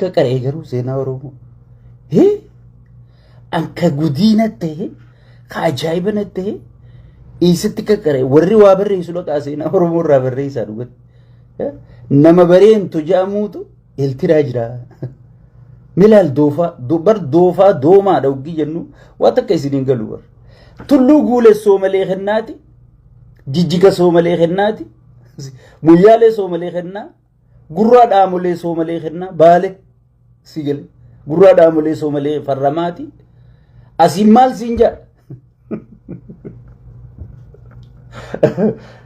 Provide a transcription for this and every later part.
Akka qara'ee garuu seenaa Oromoo. Hee? Akka gudiina ta'e, ka ajaa'iba na ta'e, eessatti akka qara'e warri waa barreessu dhaqaa seenaa Oromoo irraa barreessaa dhugatti. Hee? Nama bareentu ja'amuutu iltiraa jira. Milaal doofaa, do- bar doofaa doomaadha hoggii jennu waan takka isin hin galu bar. Tulluu guulessoo malee kennaati, jijjiga soo malee kennaati, muyyaalee soo malee kennaa, Gurraa dhaamolee soomalee kennaa baale si jala gurraa dhaamolee soomalee farramaati asiin maal siin jaa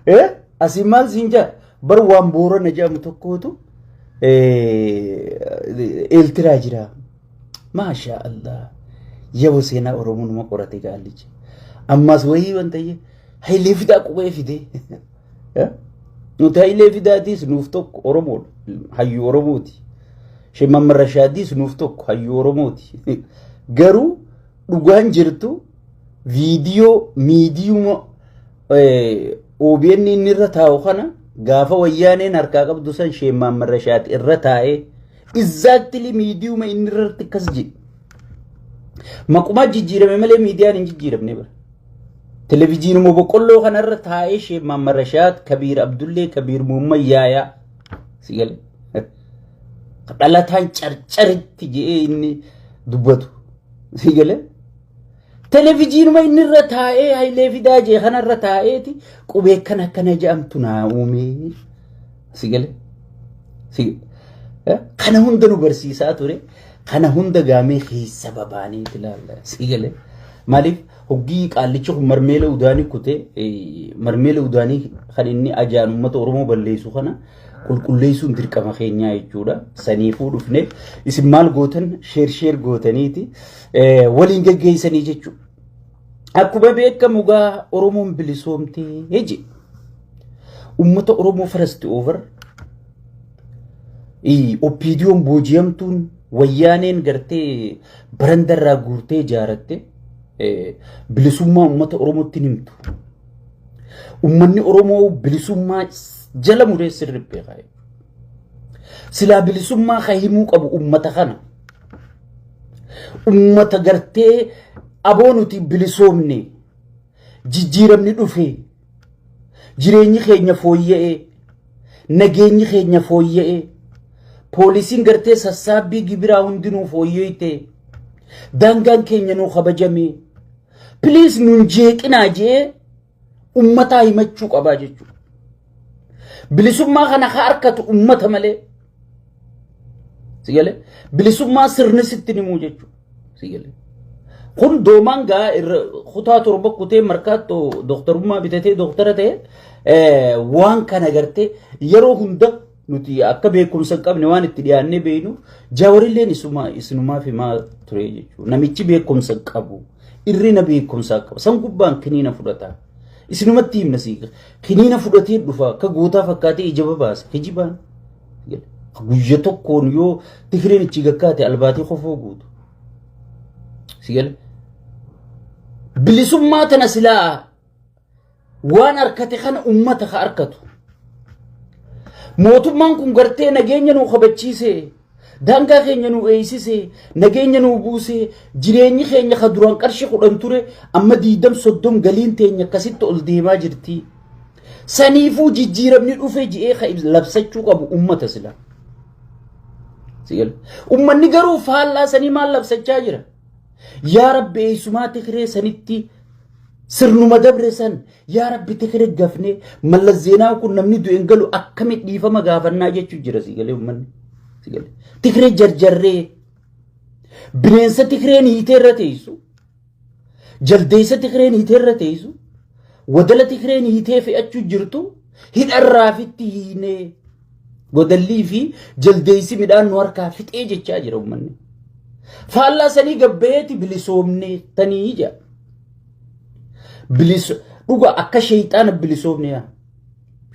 eh asiin maal siin jaa bar waan boorana jedhamu tokkootu eeltiraa jira maashaa allah yabo seenaa oromoo nama qorate gaallichi ammaas wayii wanta hayilee fidaa qubee fidee Eh? Nuti Hayilee Fidaatiis nuuf tokko Oromoodha. Hayyuu Oromooti. Sheekh Mahammad Rashaadiis nuuf tokko hayyuu Oromooti. Garuu dhugaan jirtu viidiyoo miidiyuma eh, OBN inni irra taa'u kana gaafa wayyaaneen harkaa qabdu san Sheekh Mahammad Rashaad irra taa'ee exactly miidiyuma inni irratti akkas jedhe. Maqumaa jijjiirame malee miidiyaan hin jijjiiramne bara. Televijiinuma boqqolloo kanarra taa'ee Sheek Maamma Rashaad, Kabiir Abdullee, Kabiir Muhammad Yaayaa si gale. Dhalataan carcaritti je'ee inni dubbatu si gale. Televijiinuma inni irra taa'ee Hayilee Fidaa jee kanarra taa'eeti qubee akkana akkana je'amtu naa uumee. Si gale? Si eh? kana hunda nu barsiisaa ture kana hunda gaamee keessa babaanee itti ilaalla. Si gale? Maaliif hoggii qaallicha kun marmeela udaanii kutee eh, marmeela udaanii kan inni ajaan uummata Oromoo balleessu kana qulqulleessuun dirqama keenyaa jechuudha. Saniifuu dhufne isin maal gootan sheer sheer gootaniiti eh, waliin geggeessanii jechuudha. Akkuma beekamu gaa Oromoon bilisoomtee jedhe. Uummata Oromoo first over oppiidiyoon booji'amtuun wayyaaneen gartee barandarraa guurtee ijaaratte bilisummaa uummata Oromootti himtu. Uummanni Oromoo bilisummaa jala muree sirriitti beekaa. Silaa bilisummaa kan himuu qabu uummata kana. Uummata gartee aboo nuti bilisoomne jijjiiramni dhufe jireenyi keenya fooyya'e nageenyi keenya fooyya'e poolisiin gartee sassaabbii gibiraa hundinuu fooyya'ite daangaan keenya nuu kabajame piliis nun jeeqinaa jee ummataa himachuu qabaa jechuudha. Bilisummaa kana ka harkatu ummata malee. Sigalee bilisummaa sirni sitti himuu jechuudha. Sigalee. Kun doomaan gaa irra kutaa torba kutee markaattoo dooktarummaa bitatee dooktara ta'e waan kana gartee yeroo hunda nuti akka beekumsa hin qabne waan itti dhiyaannee beeknu jaawarilleen isuma isinumaaf himaa ture jechuudha. Namichi beekumsa hin qabu irrina beekumsaa qaba san gubbaan kiniina fudhata. Isinumatti himna sii kiniina fudhatee dhufa akka gootaa fakkaatee ija babaasa hijibaan. Guyya tokkoon yoo tikiriin ichi gakkaate albaatii kofoo guutu. Sigala. Bilisummaa tana silaa waan harkate kana ummata ka harkatu mootummaan kun gartee nageenya nuu kabachiise daangaa keenya nuu eeysise nageenya nuu buuse jireenyi keenya ka duraan qarshi kudhan ture amma diidam soddom galiin teenya akkasitti ol deemaa jirti saniifuu jijjiiramni dhufe ji'ee ka labsachuu qabu ummata sila ummanni garuu faallaa sanii maal labsachaa jira yaa rabbi eeysumaa tikiree sanitti Sirnuma dabre san yaa rabbi tekere gafne mallas zeenaan kun namni du'en galu akkami dhiifama gaafannaa jechuu jira si galee ummanni. Si galee. Tikire jarjarree bineensa tikireen hiitee irra teessu jaldeessa tikireen hiitee irra teessu wadala tikireen hiitee fe'achuu jirtu hidharraafitti hiinee. Godallii fi jaldeessi midhaan nu harkaa fixee jechaa jira uummanni. Faallaa sanii gabbeetti bilisoomnee tanii ija. Biliso dhuga akka sheeyxaana bilisoomne yaa.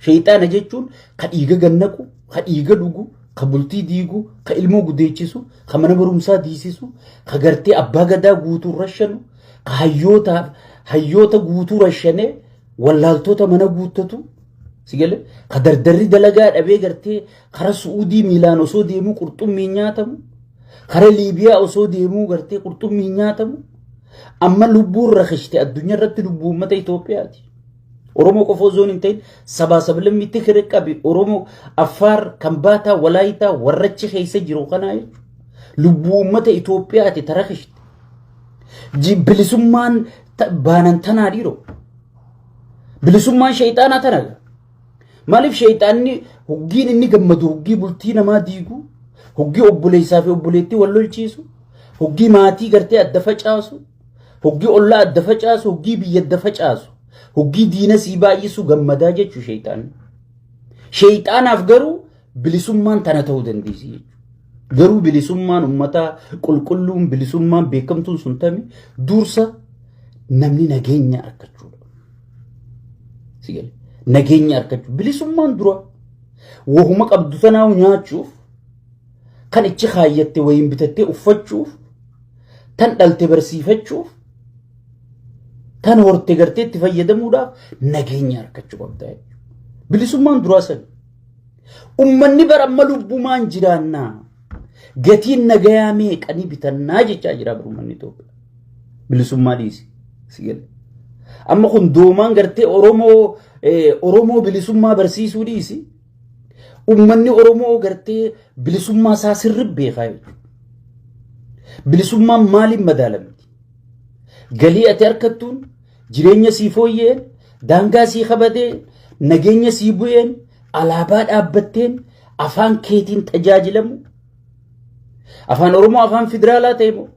Sheeyxaana jechuun ka dhiiga gannaqu, ka dhiiga dhugu, ka bultii diigu, ka ilmoo gudeechisu, ka mana barumsaa diisisu, ka gartee abbaa gadaa guutuu rashanu, ka hayyoota hayyoota guutuu rashanee wallaaltoota mana guuttatu. Sigale ka dardarri dalagaa dhabee gartee kara Su'uudii miilaan osoo deemuu qurxummiin nyaatamu kara Liibiyaa osoo deemuu gartee qurxummiin nyaatamu amma lubbuun rakishte addunyaa irratti lubbuu uummata Itoophiyaati. Oromoo qofa osoo hin ta'in sabaa sablammii tikire qabi Oromoo Affaar kan baataa walaayitaa warrachi keessa jiru kanaa jechuudha. Lubbuu uummata Itoophiyaati ta rakishte. Bilisummaan baanan tanaa dhiiroo. Bilisummaan sheeyxaanaa tana. Maaliif sheeyxaanni hoggiin inni gammadu hoggii bultii namaa diigu, hoggii obboleessaa fi obboleettii wal lolchiisu, hoggii maatii gartee adda facaasu, hoggii ollaa adda facaasu, hoggii biyya adda facaasu, hoggii diina sii baay'isu gammadaa jechuu sheeyxaanni. Sheeyxaanaaf garuu Bilisummaan tana ta'uu dandeessi jechuudha. Garuu bilisummaan uummataa qulqulluun bilisummaan beekamtuun sun tami dursa namni nageenya argachuudha. Sigale. Nageenya argachuu. Bilisummaan dura wahuma qabdu tanaa nyaachuuf kan ichi kaayyatte wayiin bitattee uffachuuf tan dhalte barsiifachuuf tan horte gartee itti fayyadamuudhaaf nageenya argachuu qabda. Bilisummaan duraa sana. Ummanni bara amma lubbumaan jiraannaa gatiin nagayaa meeqa ni bitannaa jechaa jira bara ummanni Itoophiyaa. Bilisummaa dhiisi. Si gale. Amma kun doomaan gartee Oromoo eh, Oromoo bilisummaa barsiisuu dhiisi. Ummanni Oromoo gartee bilisummaa isaa sirri beekaa jechuudha. Bilisummaan maaliin madaalamti? Galii ati harkattuun Jireenya sii fooyya'een, daangaa sii kabadeen, nageenya sii bu'een, alaabaa dhaabbatteen, afaan keetiin tajaajilamu. Afaan Oromoo afaan federaalaa ta'e moo?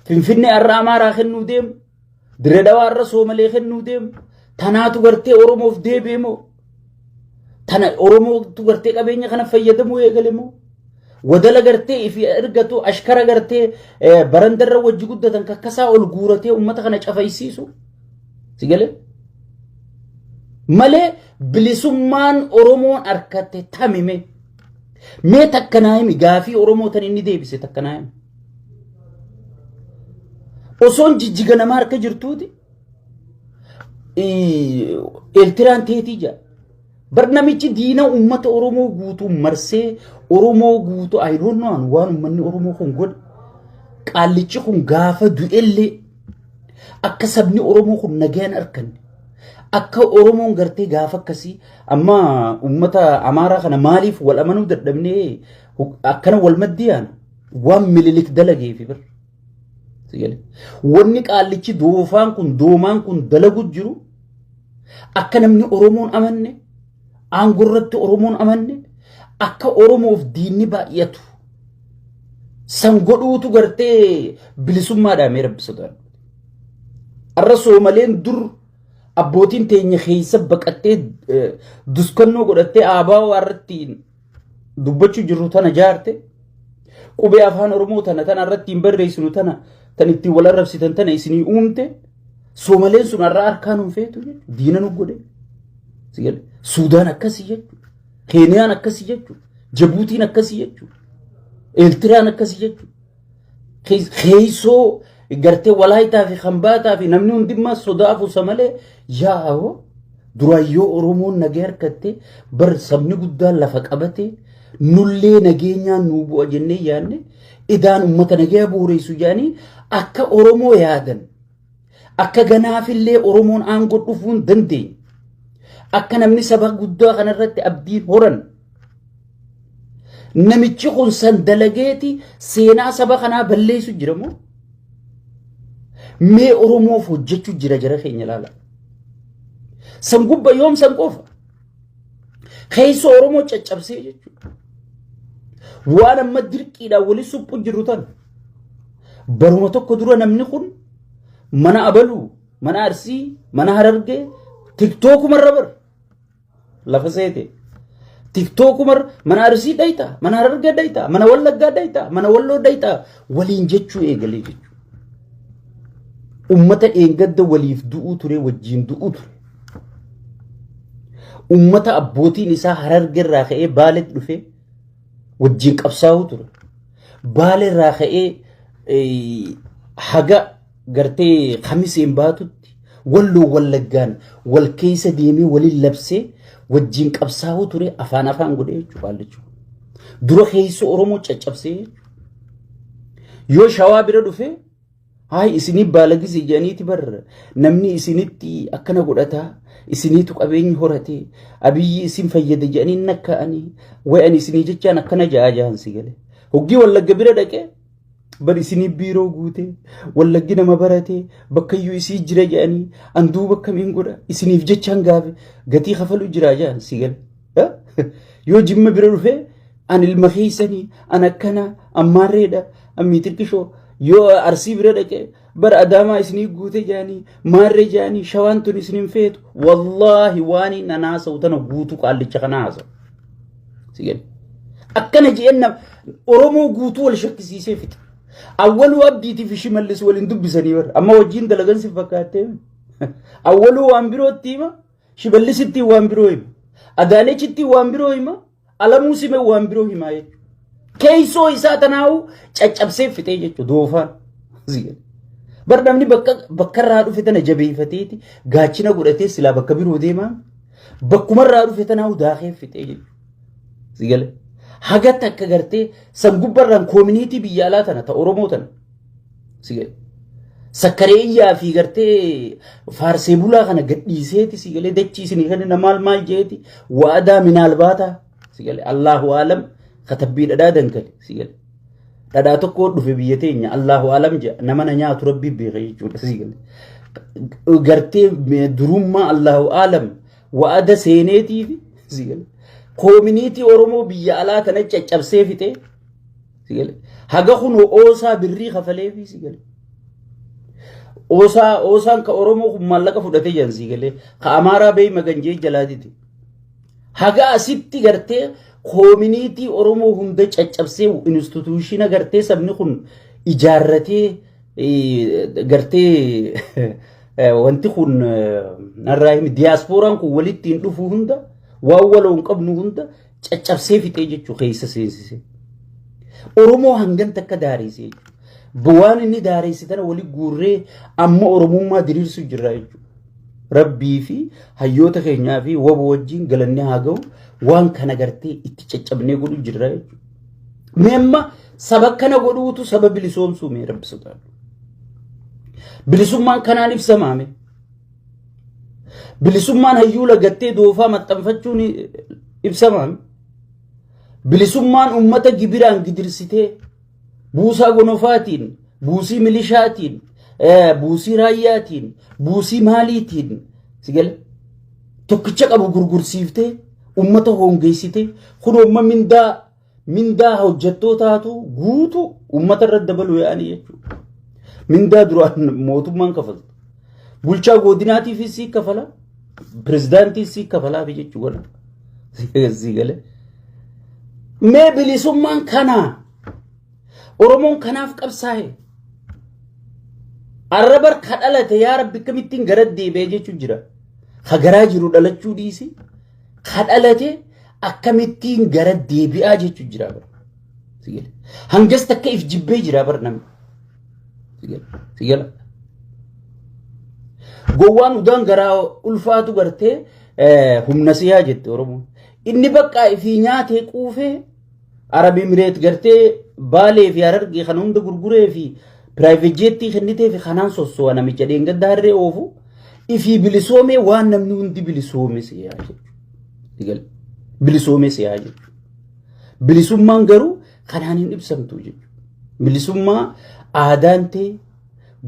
Finfinnee har'a Amaaraa kennuu deemu. Dirree Dhawaa har'a Soomalee kennuu deemu. Tanaatu gartee Oromoof deebi'e moo? Tana Oromootu gartee qabeenya kana fayyadamuu eegale moo? Wadala gartee ifi ergatu ashkara gartee barandarra wajji guddatan kakkasaa ol guuratee uummata kana cafaysiisu. Si galee? Malee bilisummaan Oromoon harkatte tamime. Mee takka naa himi gaafii Oromoo tan inni deebise takka naa himi. Osoon jijjiga nama harka jirtuuti Eertiraan teetii jira. Bar namichi diina uummata Oromoo guutuu marsee Oromoo guutuu ayidoonnoon waan uummanni Oromoo kun godhe. Qaallichi kun gaafa du'ellee akka sabni Oromoo kun nagaan arkanne. Akka Oromoon gartee gaafa akkasii amma uummata Amaaraa kana maaliif wal amanuu dadhabnee akkana wal maddiyaan waan mililik dalageefi bar. Wanni qaallichi doofaan kun doomaan kun dalagu jiru akka namni Oromoon amanne aangoo irratti Oromoon amanne akka Oromoof diinni baay'atu san godhuutu gartee bilisummaadhaa mee rabbi sodaadhu. Arra soomaleen dur abbootiin teenya keessa baqattee duskannoo godhattee aabaa irratti dubbachuu jirru tana jaarte qubee afaan oromoo tana tana irratti hin barreessinu tana tan ittiin wal arrabsitan tana isinii uumte soomaleen sun har'a harkaan hin feetu diina nu godhe suudaan akkasii jechuudha keeniyaan akkasii jechuudha jabuutiin akkasii jechuudha eeltiraan akkasii jechuudha keessoo gartee walaayitaa fi hambaataa fi namni hundimmaa sodaa afuusa malee yaa'oo duraayyoo Oromoon nagee harkattee bar sabni guddaan lafa qabatee nullee nageenyaan nuu bu'a jennee yaadne idaan uummata nagee bu'uureessu jedhanii akka Oromoo yaadan Akka ganaafillee Oromoon aangoo dhufuu hin dandeenye. Akka namni saba guddaa kanarratti abdiin horan. Namichi kun san dalageeti seenaa saba kanaa balleessu jira moo? Mee Oromoof hojjechuu jira jara keenya ilaala. San gubba yoom san qofa? Keessa Oromoo caccabsee jechuudha. Waan amma dirqiidhaan wali suphu jirru tan baruma tokko dura namni kun mana abaluu, mana arsii, mana harargee tiktookumarra bar lafa seete. Tiktookumar mana arsii dhayta, mana harargee dhayta, mana wallaggaa dhayta, mana walloo dhayta waliin jechuu eegalee jechuudha. Ummata dheengadda waliif du'uu ture wajjin du'uu ture. Uummata abbootiin isaa harargerraa ka'ee baaletti dhufee wajjin qabsaa'uu ture. Baalerraa ka'ee haga gartee kamiseen baatutti walloo wallaggaan wal keessa deemee waliin labsee wajjin qabsaa'uu ture afaan afaan godhee jechuudha qaallichi. Dura keessa Oromoo caccabsee yoo shawaa bira dhufee Haay isinii baalagisi jedhaniiti bar namni isinitti akkana godhataa isiniitu qabeenyi horate abiyyi isin fayyada jedhanii nakkaa'anii wayan isinii jechaan akkana ja'a jahan si gale. Hoggii wallagga bira dhaqee bar isinii biiroo guute wallaggi nama barate bakkayyuu isii jira jedhanii anduu bakkamiin godha isiniif jechaan gaafe gatii kafalu jira jahan si gale. Yoo jimma bira dhufee an ilma keessanii an akkana an maarreedha an miitirqishoo yoo arsii bira dhaqee bara adaamaa isinii guute jaanii maarree jaanii shawaan tun isin hin feetu wallaahi waan hin an haasa'u tana guutuu qaallicha kana haasa'u. Sigan. Akkana jeenna Oromoo guutuu wal shakkisiisee fixa. Awwaluu abdiitii fi shimallis waliin dubbisanii bara amma wajjin dalagan si fakkaattee awwaluu waan birootti hima shimallisitti waan biroo hima adaanechitti waan biroo hima. Alamuu sime waan biroo himaa jechuudha. Keessoo isaa tanaa'u caccabsee fixee jechuudha doofaan. Bar namni bakka bakka irraa dhufe tana jabeeffateeti gaachina godhatee silaa bakka biroo deemaa bakkuma irraa dhufe tanaa'u daakee fixee jechuudha. Haga takka gartee san gubbarraan koominiitii biyya alaa tana ta Oromoo tana si galee sakkareeyyaa fi gartee faarsee bulaa kana gadhiiseeti si galee dachii isinii kenna maal maal jeeti waadaa minaal baata si galee allaahu aalam katabbii dhadhaa dankale si galee dhadhaa tokko dhufe biyya teenya allaahu aalam jedha nama na nyaatu rabbii beeka jechuudha si galee gartee durummaa allaahu aalam waada seeneetiif si galee koominiitii oromoo biyya alaa kana caccabsee fixee Sigale. Haga kun oosaa birrii kafalee fi sigale. Oosaa oosaan ka Oromoo kun maallaqa fudhatee jiran sigale. Ka Amaaraa beey maganjee jalaatiti. Haga asitti gartee koominiitii Oromoo hunda caccabsee instituushiina gartee sabni kun ijaarratee eh, gartee eh, wanti kun eh, narraa himi diyaaspooraan kun walitti hin dhufu hunda waan waloo hin qabnu hunda caccabsee fixee jechuu keessa seensise. Oromoo hangan takka daareesse jechuudha. Bu'aan inni daareesse tana wali guurree amma Oromummaa diriirsu jirra jechuudha. Rabbii fi hayyoota keenyaa fi waba wajjin galanni haa ga'u waan kana gartee itti caccabnee godhu jirra jechuudha. Mee amma saba kana godhuutu saba bilisoomsuu mee rabbi sodaadhu. Bilisummaan kanaan ibsamaame. Bilisummaan hayyuu lagattee doofaa maxxanfachuun ibsamaan bilisummaan uummata gibiraan gidirsitee buusaa gonofaatiin, buusii milishaatiin, buusii raayyaatiin, buusii maaliitiin sigala tokkicha qabu gurgursiiftee uummata hoongeessitee kun uumma mindaa Mindaa hojjettootaatu guutu uummata irra dabaluu yaa'anii jechuudha. Mindaa duraan mootummaan kafaltu. Bulchaa godinaatiifis sii kafala. Pirezidaantiis sii kafalaafi jechuudha. Sii galee. Mee bilisummaan kanaa Oromoon kanaaf qabsaa'e. Arrabar ka dhalate yaa rabbi akkamittiin gara deebi'ee jechuun jira. Ka garaa jiru dhalachuu dhiisi. Ka dhalate akkamittiin gara deebi'aa jechuun jira bara. Sigala. Hangas takka if jibbee jira bara namni. Sigala. Sigala. Gowwaan udaan garaa ulfaatu gartee eh, humna siyaa jette Oromoon. Inni baqqaa ifii nyaatee quufee Arab Emireet gartee Baalee fi Harargee kana hunda gurguree fi piraayiveet jeettii kennitee fi kanaan sosso'a namicha dheengadda harree oofu ifii bilisoomee waan namni hundi bilisoome si'aa jechuudha. Bilisoome si'aa jechuudha. Bilisummaan garuu kanaan hin ibsamtu jechuudha. Bilisummaa aadaan ta'e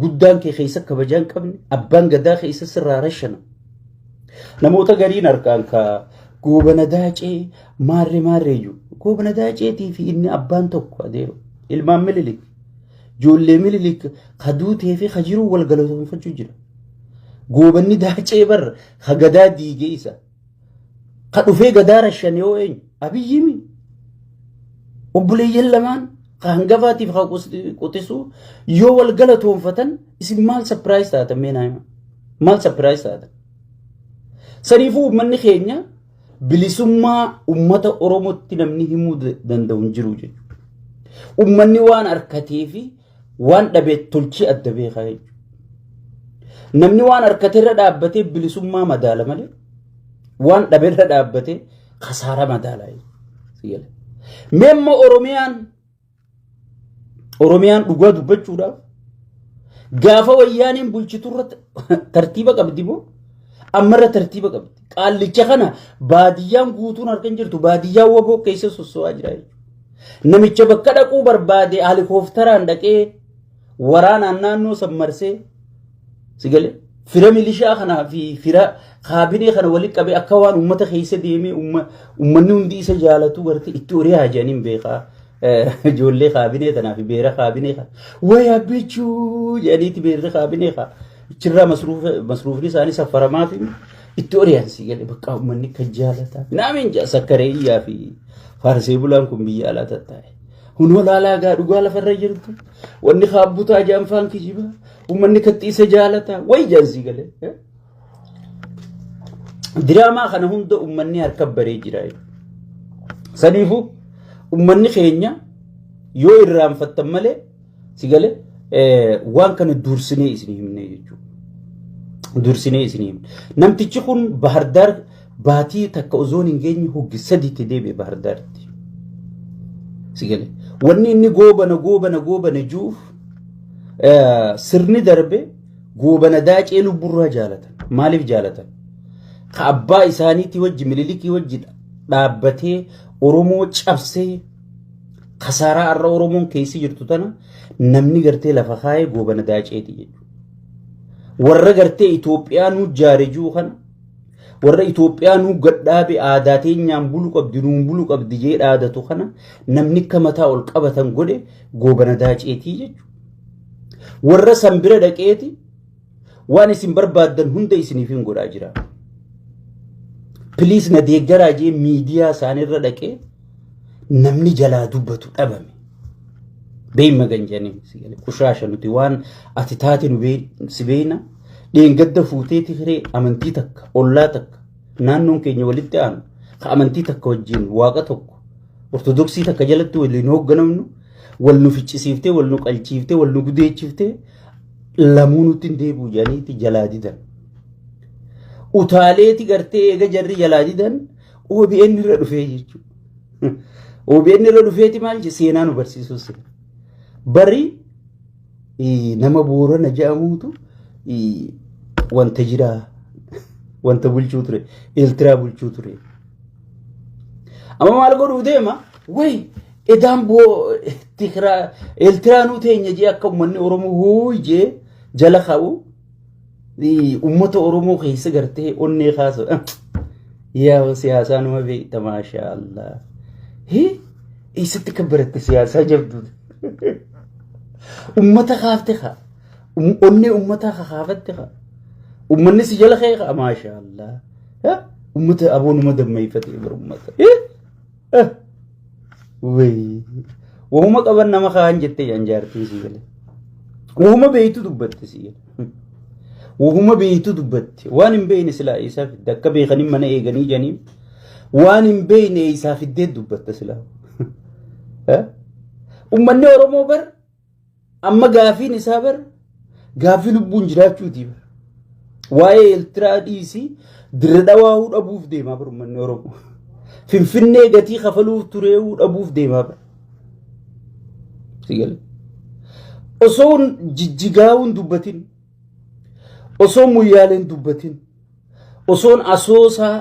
Guddaan kee keessa kabajaa hin qabne abbaan gadaa keessa sirraa rashana. Namoota gariin argaan ka goobana daacee maarree maarree jiru. Goobana daaceetii fi inni abbaan tokko adeema. Ilmaan mililik. Ijoollee mililik ka duutee fi ka jiru wal galatoomfachuu jira. Goobanni daacee barra ka gadaa diigee isa. Ka dhufee gadaa rashan yoo eenyu abiyyimi obboleeyyan lamaan ka hangafaatiif ka quxisuu yoo wal galatoonfatan isin maal sapiraayis taatan mee naayima maal sapiraayis taatan saniifuu uummanni keenya bilisummaa uummata oromootti namni himuu danda'u hin jiru jechuudha uummanni waan harkatee fi waan dhabe tolchii adda beekaa jechuudha. Namni waan harkate irra dhaabbatee bilisummaa madaala malee waan dhabe irra dhaabbatee kasaara madaala jechuudha. Mee amma Oromiyaan Oromiyaan dhugaa dubbachuudhaaf gaafa wayyaaniin bulchitu irratti tartiiba qabdi moo ammarra tartiiba qabdi. Qaallicha kana baadiyyaan guutuun harka hin jirtu baadiyyaan waboo keessa sosso'aa jira jechuudha. Namicha bakka dhaquu barbaade halikooftaraan dhaqee waraanaan naannoo san marsee sigalee fira milishaa kanaa fi fira kaabinee kana walitti qabee akka waan uummata keessa deemee uummanni hundi isa jaalatu garte itti horii haajaniin beekaa. Ijoollee kaabinee tanaa fi beera kaabinee kana wayaa bichuu jedhaniiti beerri kaabinee kana achirraa masruufni isaanii saffaramaa fi Itti oriyaansii gale bakka uummanni kan jaalataa. Naamiin jaa sakkaree iyyaa fi faarsee bulaan kun biyya alaa tattaa'e. Kun holaalaa gaa dhugaa lafarra jirtu. Wanni kaabbutaa jaanfaan kijiba. Uummanni kaxxiisa jaalataa. Wayi jaansii gale. Diraamaa kana hunda uummanni harka baree jira. Saniifuu uummanni keenya yoo irraanfattan malee Si gale waan kana dursinee isin himne jechuudha. Dursinee isin himne. Namtichi kun Bahardaar baatii takka ozoon hin geenye hoggi sadiitti deebi'e Bahardaaritti. Si gale. Wanni inni goobana goobana goobana juuf sirni darbe goobana daacee lubburraa jaalatan. Maaliif jaalatan? Ka abbaa isaaniitii wajji mililikii wajji dhaabbatee Oromoo cabsee Kasaaraa har'a Oromoon keessa jirtu tana namni gartee lafa kaa'ee goobana daaceeti jechuudha. Warra gartee Itoophiyaa nu jaare jiru kana warra Itoophiyaa nu gadhaabe aadaa teenyaan bulu qabdi nuun bulu qabdi jee dhaadatu kana namni akka mataa ol qabatan godhe goobana daaceetii jechuudha. Warra san bira dhaqeeti Waan isin barbaaddan hunda isiniifin godhaa jira. Piliis na deeggaraa jee miidiyaa isaanirra dhaqee namni jalaa dubbatu dhabame. Beeyma ganjanii qushaasha nuti waan ati taate nu si beeyna dheengadda fuutee tiree amantii takka ollaa takka naannoon keenya walitti aanu ka amantii takka wajjin waaqa tokko ortodoksii takka jalatti waliin hoogganamnu wal nu ficcisiiftee wal nu qalchiiftee wal nu gudeechiftee lamuu nutti hin deebi'u jedhaniiti jalaa didan. Utaaleeti gartee eega jarri jalaa didan OBN irra dhufee jechuudha. OBN irra dhufeeti maal jedhe seenaa nu barsiisuu seena. Bari nama boorana jedhamuutu wanta jiraa wanta bulchuu ture eeltiraa bulchuu ture. Amma maal godhuu deema wayi Edaan boo tikraa eltiraanuu teenya jee akka ummanni Oromoo huuy jee jala ka'u ummata Oromoo keessa gartee onnee kaasu. Yaa siyaasaa nama beekta maashaa Allah. Hii eessatti kan baratte siyaasaa jabduu. Ummata kaafte kaa. Onnee ummataa kakaafatte kaa. Ummanni si jala ka'e kaa maashaa Allah. Ummata aboonuma dammeeffate ummata. Wayii. Wahuma qaban nama kaan jettee jan jaartiin sii galee. Wahuma beeytu dubbatte sii galee. Wahuma beeytu dubbatte. Waan hin beeyne silaa eessaa fidde akka beekanii mana eeganii janiin. Waan hin beeyne eessaa fiddee dubbatta silaa. Ummanni Oromoo bar Amma gaafiin isaa bar gaafii lubbuun jiraachuuti bar. Waa'ee Eertiraa dhiisii dirre dhawaahuu dhabuuf deemaa bar uummanni Oromoo. Finfinnee gatii kafaluuf tureehuu dhabuuf deemaa bar. Sigale. Osoo jijjigaawuun dubbatin osoo muyyaaleen dubbatin. osoon asoosaa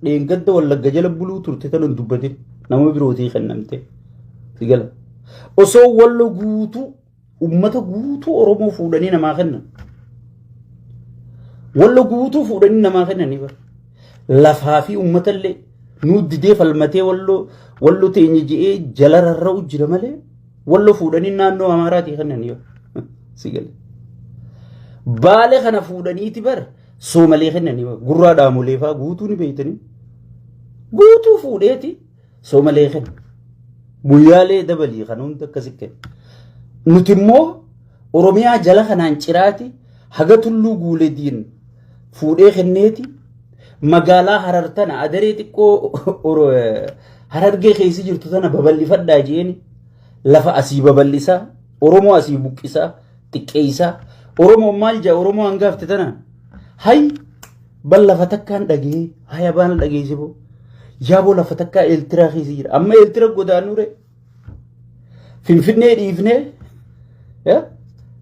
dheengadda wallagga jala buluu turte tanan dubbatin nama birootii kennamte sigala osoo wallo guutuu ummata guutuu oromoo fuudhanii namaa kennan wallo guutuu fuudhanii namaa kennanii bara lafaa fi ummatallee nuu didee falmatee wallo wallo teenye je'ee jala rarra'u jira malee Wallo fuudhanii naannoo Amaaraatii kennan yoo si gale. Baale kana fuudhaniiti bar soomalee kennan yoo gurraa dhaamolee fa'aa guutuu ni beeytanii. Guutuu fuudheeti soomalee kenna. Guyyaalee dabalii kan hundi akkasi kenna. Nuti immoo Oromiyaa jala kanaan ciraati haga tulluu guulediin fuudhee kenneeti magaalaa harar tana adaree xiqqoo oro- eh, harargee keessa jirtu tana babal'ifadhaa jeeni lafa asii babal'isaa oromoo asii buqqisaa xiqqeessaa oromoon maal jaa oromoo hangaafte tana hay bal lafa takkaan dhagee haya baana dhageessifoo yaaboo lafa takkaa eeltiraa keessa jira amma eeltira godaanure Finfinnee dhiifnee eh,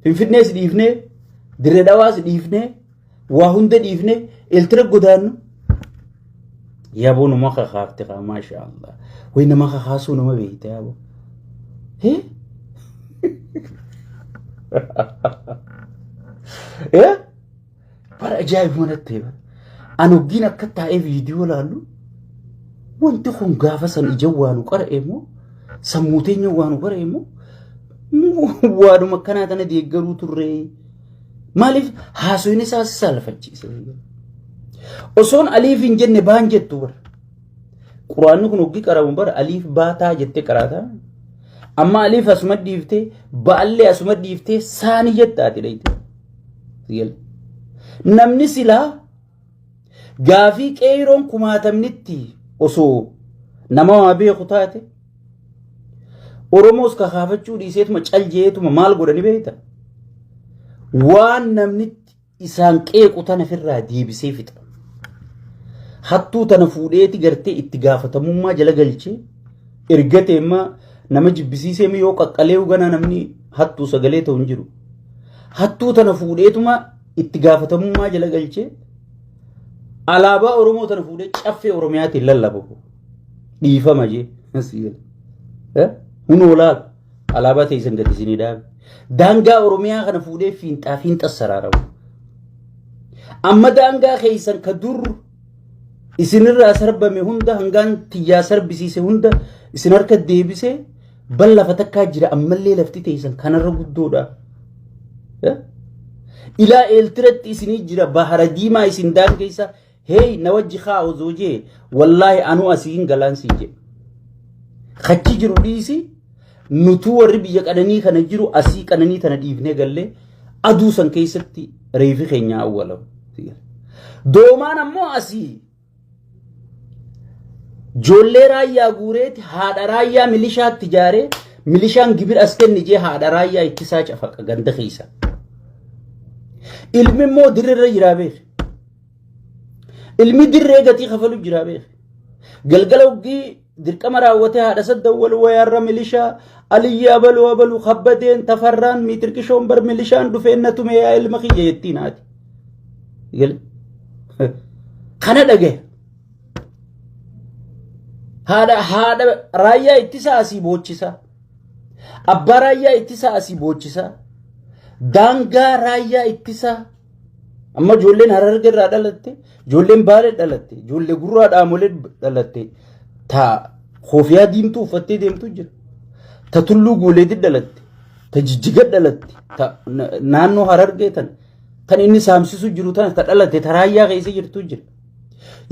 Finfinnees dhiifnee Dirree Dhawaas dhiifnee waa hunda dhiifnee Eeltira godaannu yaaboo nama kakaafte kaa maashaa Allah wayi nama kakaasuu nama beekte yaaboo. Eh? Eh? Bara ajaa'ibuma natti ta'e bara. An hoggiin akka taa'ee viidiyoo laallu wanti kun gaafa san ija waa nu qara'e moo sammuu teenya waa nu qara'e moo waaduma akkanaa tana deeggaruu turre maaliif haasofni isaa si saalfachiise. Osoon aliif hin jenne baan jettu bara. Quraanni kun hoggi qaramu bara aliif baataa jettee qaraataa. Amma aliif asuma dhiiftee baallee asuma dhiiftee saanii jetta ati dhayitee. Real. Namni silaa gaafii qeeyroon kumaatamnitti osoo nama waa beeku taate Oromoos kakaafachuu dhiiseetuma cal jeetuma maal godhani beekta? Waan namnitti isaan qeequ tana firraa deebisee fixa. Hattuu tana fuudheeti gartee itti gaafatamummaa jala galchee erga teemmaa nama jibbisiisee yoo qaqqalee ganaa namni hattuu sagalee ta'u hin jiru. Hattuu tana fuudheetuma itti gaafatamummaa jala galchee alaabaa Oromoo tana fuudhee caffee Oromiyaatiin lallababu. Dhiifama jee. Kun olaal alaabaa teessan gadi isinii dhaabe. Daangaa Oromiyaa kana fuudhee fiinxaa fiinxas saraaramu. Amma daangaa keessan ka dur isinirraa sarbame hunda hangaan tiyyaa sarbisiise hunda isin harka deebise bal lafa takkaa jira ammallee lafti teessan kanarra guddoodha. Eh? Ilaa eeltiratti isinii jira bahara diimaa isin daangeessa hey na wajji haa osoo jee wallaahi anuu asiin galaan siin jee. Kachi jiru dhiisi Nutuu warri biyya qananii kana jiru asii qananii tana dhiifnee gallee aduu san keessatti reefi keenya awwalamu. Doomaan ammoo asii joollee raayyaa guureeti haadha raayyaa milishaatti ijaaree milishaan gibir as kenni jee haadha raayyaa ittisaa cafaqa ganda keessa. Ilmi immoo dirree jiraa beeku. Ilmi dirree gatii kafalu jiraa beeku. Galgala hoggii dirqama raawwatee haadha saddan wal wayaarra milishaa aliyyi abalu abalu kabbadeen tafarraan miitirqishoon bar milishaan dhufeen na tumee yaa ilma kiyya jettiin haati. Kana dhagaya. Haadha haadha raayyaa ittisaa asii boochisaa. Abbaa raayyaa ittisaa asii boochisaa. Daangaa raayyaa ittisaa. Amma ijoolleen hararge irraa dhalatte, ijoolleen baalee dhalatte, ijoollee gurraa dhaamolee dhalatte, ta koofiyaa diimtuu uffattee deemtu jira. Ta tulluu guuleetti dhalatte, ta jijjiga dhalatte, ta na- naannoo harargee tan kan inni saamsisu jiru tana ta dhalatte ta raayyaa keessa jirtu jira.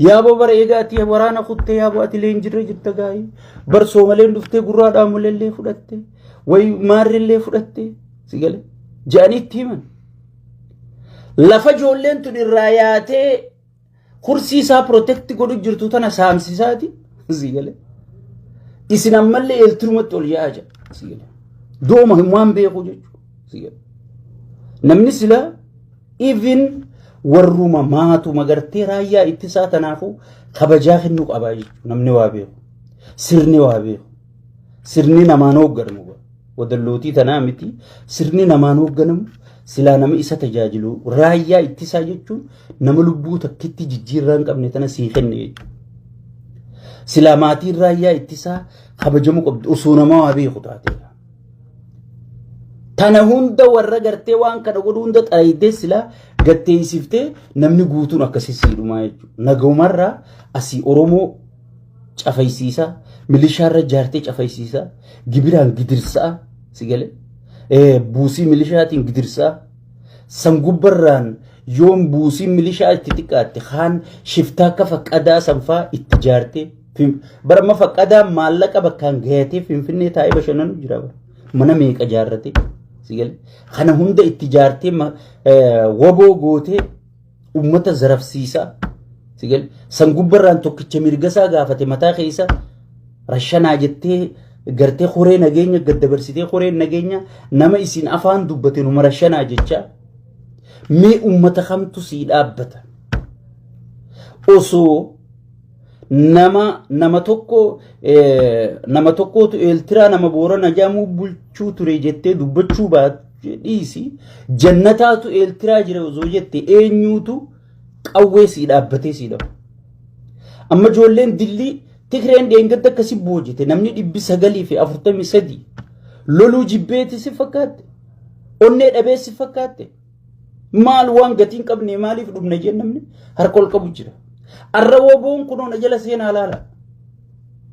Yaaboo bara eegaa ati waraana kuttee yaaboo ati illee hin jirre jirta gaa'ii. Bar soomaleen dhuftee gurraa dhaamolee illee fudhatte. Wayi maarri illee fudhatte. Si galee. Ja'anii itti himan. Lafa ijoolleen tun irraa yaatee kursii isaa protect godhu jirtu tana saamsisaati. Sii galee. Isin ammallee eeltirumatti ol yaa'aa jira. Sii galee. Dooma hin waan beeku jechuudha. Sii galee. Namni sila even warruma maatu magartee raayyaa ittisaa tanaafuu kabajaa kennuu qabaa jechuudha. Namni waa beeku. Sirni waa beeku. Sirni namaan hoogganamu wadallootii tanaa miti sirni namaan hoogganamu silaa nama isa tajaajilu raayyaa ittisaa jechuun nama lubbuu takkitti jijjiirraa hin qabne tana sii kenne jechuudha. Silaa maatiin raayyaa ittisaa kabajamu qabdu osoo nama waa beeku taateedha. Tana hunda warra gartee waan kana godhu hunda xaayidee silaa gatteessiftee namni guutuun akkasii siidhumaa jechuudha. Nagahumarraa asii Oromoo cafaysiisaa, milishaarra ijaartee cafaysiisaa, gibiraan gidirsaa, si galee? Eh, buusii milishaatiin gidirsaa, san gubbarraan yoom buusiin milishaa itti xiqqaatte kaan shiftaa akka faqqadaa sanfaa itti ijaartee Fin- bara amma faqqadaa maallaqa bakkaan gayatee finfinnee taa'ee bashannanu jira bara mana meeqa ijaarratee si galee? kana hunda itti ijaartee ma- eh, waboo gootee Uummata zarafsiisaa. Sigal san gubbarraan tokkicha mirgasaa gaafate mataa keessa rashanaa jettee gartee koree nageenya gad dabarsitee koreen nageenya nama isin afaan dubbate numa rashanaa jechaa mee uummata kamtu sii dhaabbata osoo nama nama tokko nama tokkootu eeltiraa nama boorana jedhamu bulchuu ture jettee dubbachuu baatu dhiisi jannataatu eeltiraa jira osoo jette eenyuutu qawwee sii dhaabbatee sii dhabu. Amma ijoolleen dillii Tigreen dheengadda akkasii boojite namni dhibbi sagalii fi afurtamii sadii loluu jibbeeti si fakkaatte onnee dhabeessi fakkaatte. Maal waan gatii hin qabne maaliif dhumna jeen namni harka ol qabu jira. Arra waboon kunoo na jala seenaa laala.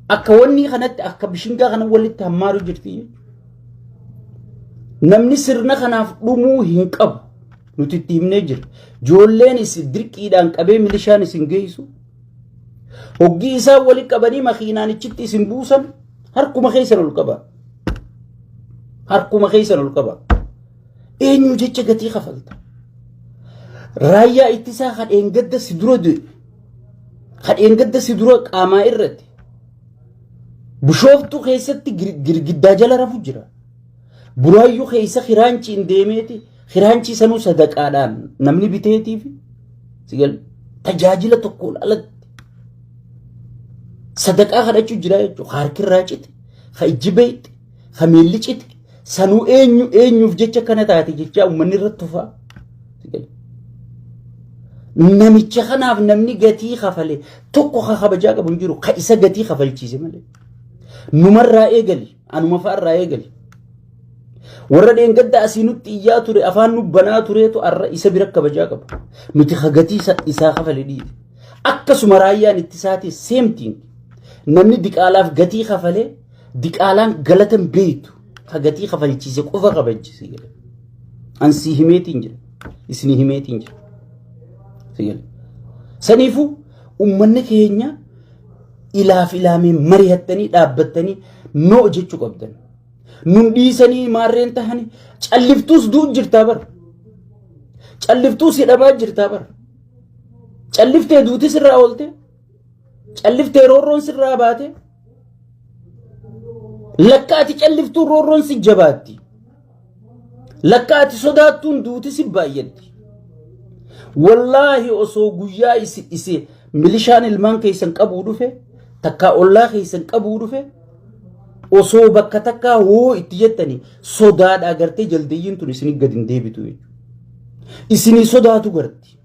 Akka wanni kanatti akka bishingaa kana walitti hammaaru jirti. Namni sirna kanaaf dhumuu hin qabu. Nuti itti himnee jira. Joolleen isin dirqiidhaan qabee milishaan isin geessu. Hoggii isaan wali qabanii makiinaan ichitti isin buusan harkuma keessan ol qaba. Harkuma keessan ol qaba. Eenyu jecha gatii kafalta. Raayyaa ittisaa hadheen gadda si dura du'e. Hadheen gadda si dura qaamaa irratti. Bishooftuu keessatti girgiddaa jala rafu jira. Buraayyuu keessa hiraanchiin deemeeti. Hiraanchii sanuu sadaqaadhaan namni biteetiif tajaajila tokkoon alatti sadaqaa kadhachuu jira jechuudha. Harki irraa cite, ha ijji beekte, Ka miilli cite sanuu eenyu eenyuuf jecha kana taate jechaa uummanni irratti tufaa. Namicha kanaaf namni gatii kafale tokko ka kabajaa qabu hin jiru ka isa gatii kafalchiise malee. Numarraa eegali anuma fa'arraa eegali. Warra dheengadda asii nutti iyyaa ture afaan nu banaa tureetu arra isa bira kabajaa qabu. Nuti ka gatii isa- isaa kafale dhiibe. Akkasuma raayyaan ittisaatis same thing. Namni diqaalaaf gatii kafalee Diqaalaan galata hin beektu. Ka gatii kafalchiise qofa kabajji si jedhe. An si himeetiin jira. Isin himeetiin jira. Si jedhe. Saniifuu uummanni keenya ilaaf ilaamee mari'attanii dhaabbattanii noo jechuu qabdan. Nun dhiisanii maarreen tahanii calliftuus du'u jirtaa bara. Calliftuus hidhamaa jirtaa bara. Calliftee duuti sirraa oolte. Calliftee roorroon sirraa baate. Lakka ati calliftuun roorroon si jabaatti. Lakka ati sodaattuun duuti si baay'atti. Wallaahi osoo guyyaa isi isi milishaan ilmaan keessan qabuu dhufe takkaa ollaa keessan qabuu dhufe osoo bakka takkaa hoo itti jettanii sodaadhaa gartee jaldayyiin tun isin gad hin deebitu jechuudha. Isinii sodaatu garti.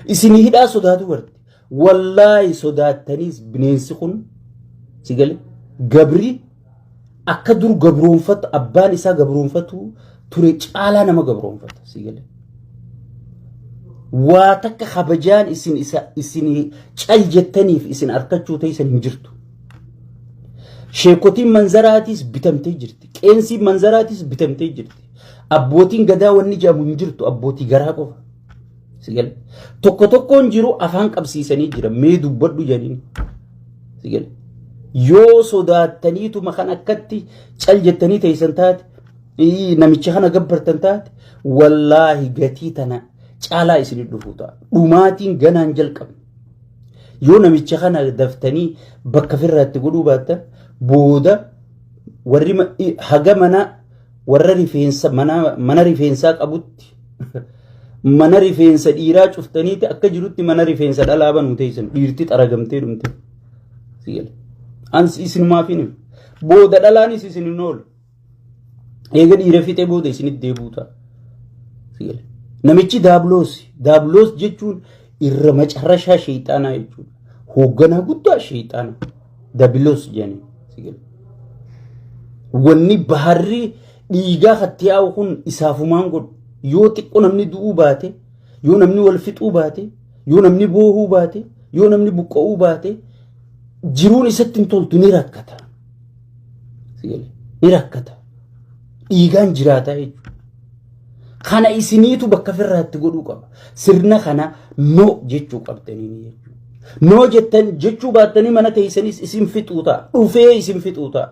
Isinii hidhaa sodaatu garti. Wallaahi sodaattaniis bineensi kun si gale gabri akka dur gabroonfatu abbaan isaa gabroonfatu ture caalaa nama gabroonfata si gale. Waa takka kabajaan isin isa isin cal jettaniif isin arkachuu teessan hin jirtu. Sheekotiin manzaraatiis bitamtee jirti. Qeensiin manzaraatiis bitamtee jirti. Abbootiin gadaa wanni jedhamu hin jirtu abbootii garaa qofa. Sigal. Tokko tokkoon jiru afaan qabsiisanii jira. Mee dubbadhu jedhanii. Sigal. Yoo sodaattaniituma kan akkatti cal jettanii teessan taate ii, namicha kana gabbartan taate wallaahi gatii tana caalaa isin dhufuu ta'a. Dhumaatiin ganaan jalqabe. Yoo namicha kana daftanii bakka firraatti godhuu baattan booda warri ma- i- haga mana warra rifeensa mana mana rifeensaa qabutti Mana rifeensa dhiiraa cuftaniiti akka jirutti mana rifeensa dhalaa banuu teessan dhiirti xaragamtee dhumte. Ans isinumaaf hin booda dhalaanis isin hin oolu. Eega dhiira fixee booda isinitti deebi'u ta'a. Namichi daabloos daabloos jechuun irra macarrashaa sheexaanaa jechuudha. Hoogganaa guddaa sheexaanaa. dabiloos jeni sigil wanni baharri dhiigaa katti yaa'u kun isaafumaan godhu yoo xiqqo namni du'uu baate yoo namni wal fixuu baate yoo namni boohuu baate yoo namni buqqa'uu baate jiruun isatti hin toltu ni rakkata sigil ni rakkata dhiigaan jiraataa jechuudha Kana isiniitu bakka firraatti godhuu qaba. Sirna kana no jechuu qabdanii jechuudha. No jettan jechuu baattanii mana teessanis isin fixuu ta'a. Dhufee isin fixuu ta'a.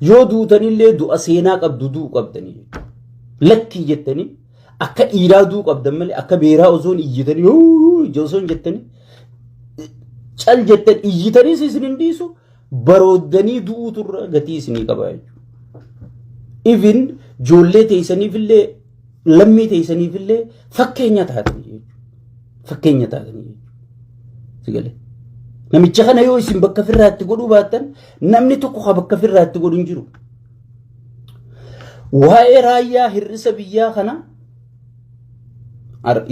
Yoo duutanillee du'a seenaa qabdu du'u qabdanii jechuudha. Lakkii jettanii akka dhiiraa du'u qabdan malee akka beeraa osoo hin iyyitanii osoo hin jettanii cal jettan iyyitaniis isin hin dhiisu. Barooddanii du'uutu irra gatii isinii qaba jechuudha. Even ijoollee teessaniifillee lammii teessaniifillee fakkeenya taatanii jechuudha. Fakkeenya taatanii jechuudha. Sigalee. Namicha kana yoo isin bakka firraatti godhuu baattan namni tokko kan bakka firraatti godhu hin jiru. Waa'ee raayyaa hir'isa biyyaa kana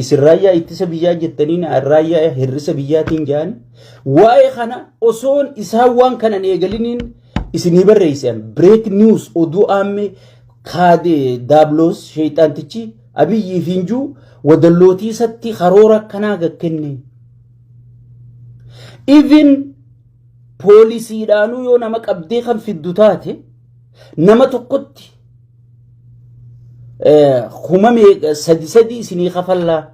Isin raayyaa ittisa biyyaa jettaniin raayyaa hir'isa biyyaatiin jedhan waa'ee kana osoon isaan waan kanan eegaliniin isinii barreessan break news oduu aammee kaadee daabloos sheexaantichi abiyyii fi injuu wadallootii isatti karoora akkanaa gakkenne. Even poolisiidhaanuu yoo nama qabdee kan fiddu taate nama tokkotti kuma sadi sadi isinii kafallaa.